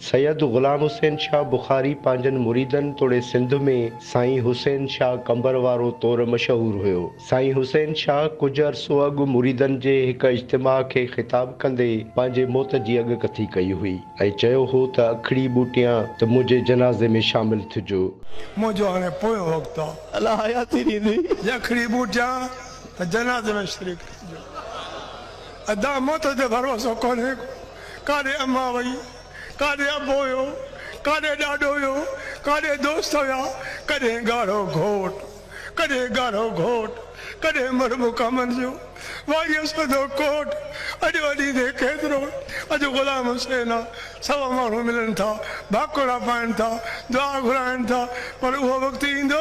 سيد غلام حسين شاهه بخاري پنهنجن مريدن توڙي سنڌ ۾ سائين حسين شاهه قنبر وارو طور مشهور هيو. سائين حسين شاهه ڪجهه عرصو اڳ مريدن جي هڪ اجتماع کي خطاب ڪندي پنهنجي موت جي اڳڪٿي ڪئي هئي ۽ چيو هو ته اکڙي ٻوٽيان ته منهنجي جنازي ۾ شامل ٿجو. منهنجو هاڻي پويون وقت آ. الله حياتي ڏيندي. جي اکڙي ٻوٽيان ته جنازي ۾ شريڪ ٿجو. ادا موت تي ڀروسو ڪونهي ڪو. ڪاڏي امان وئي، ڪاڏي ابو ويو، ڪاڏي ڏاڏو ويو، ڪاڏي دوست ويا، ڪڏهن ڳاڙهو گهوٽ، ڪڏهن ڳاڙهو گهوٽ، ڪڏهن مرب ڪامن جو واڳيو سوڌو ڪوٽ، اڄ وڏيندي ڪيترو، اڄ غلام حسين آ. سوا ماڻهو ملن ٿا، ڀاڪوڙا پائين ٿا، دعا گهرائين ٿا، پر اهو وقت ايندو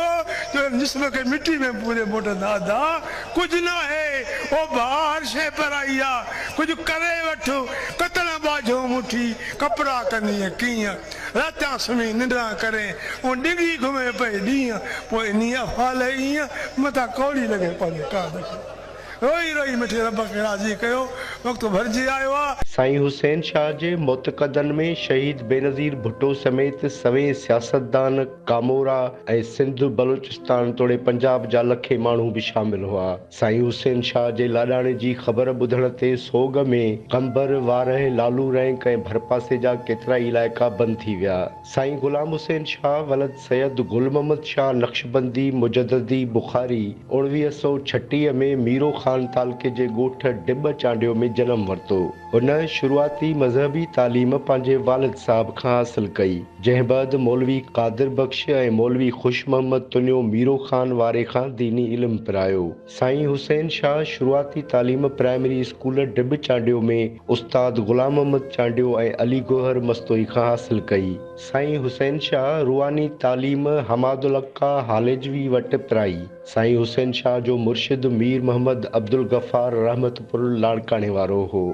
جو ان جسم کي مٽي ۾ پوري موٽندا ادا ڪجهه ناهي، او ڀاء هر شيء پرائي آ، ڪجهه ڪري وٺ، ڪتڻ ٻاجهو مٺي ڪپڙا ڪندينء ڪيئن، راتيان سمهي ننڊران ڪرين، اون ڊگهي گهمي پئي ڏينهن، پوء انهيء افعال ايئن متان ڪوڙي لڳي پنهنجي ڪاڌ کي. روئي روئي مٺي رب کي راضي ڪيو وقت ڀرجي آيو آ. سائين حسين شاهه جي معتقدن ۾ شهيد بينظير ڀٽو سميت سوين سياستدان، ڪامورا ۽ سنڌ، بلوچستان توڙي پنجاب جا لکين ماڻهو به شامل هئا. سائين حسين شاهه جي لاڏاڻي جي خبر ٻڌڻ تي سوڳ ۾ قمبر، وارهه، لالو رينڪ ۽ ڀرپاسي جا ڪيترائي علائقا بند ٿي ويا. سائين غلام حسين شاهه ولد سيد گل محمد شاهه نقشبندي مجددي بخاري اوڻويهه سؤ ڇٽيهه ۾ ميرو خان تعلقي جي ڳوٺ ڊٻ چانڊيو ۾ جنم ورتو. هن شروعاتي مذهبي تعليم پنهنجي والد صاحب کان حاصل ڪئي، جنهن بعد مولوي قادر بخش ۽ مولوي خوش محمد تنيو ميرو خان واري کان ديني علم پرايو. سائين حسين شاهه شروعاتي تعليم پرائمري اسڪول ڊٻ چانڊيو ۾ استاد غلام محمد چانڊيو ۽ علي گوهر مستوئي کان حاصل ڪئي. سائين حسين شاهه روحاني تعليم حماد الحقه هاليجوي وٽ پرائي. سائين حسين شاهه جو مرشد مير محمد عبدالغفار رحمت پور لاڙڪاڻي وارو هو.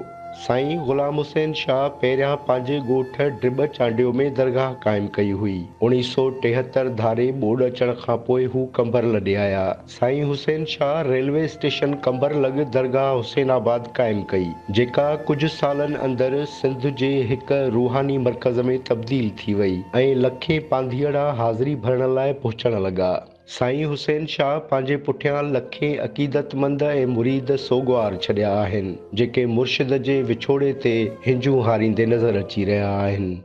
سائين غلام حسين شاهه پهريان پنهنجي ڳوٺ ڊٻ چانڊيو ۾ درگاهه قائم ڪئي هئي. اوڻيهه سؤ ٽيهتر ڌاري ٻوڏ اچڻ کان پوء هو قمبر لڏي آيا. سائين حسين شاهه ريلوي اسٽيشن قمبرلڳ درگاهه حسين آباد قائم ڪئي، جيڪا ڪجهه سالن اندر سنڌ جي هڪ روحاني مرڪز ۾ تبديل ٿي وئي ۽ لکين پانڌيئڙا حاضري ڀرڻ لاء پهچڻ لڳا. سائين حسين شاهه پنهنجي پٺيان لکين عقيدتمند ۽ مريد سوڳوار ڇڏيا آهن، جيڪي مرشد جي وڇوڙي تي هنجون هاريندي نظر اچي رهيا آهن.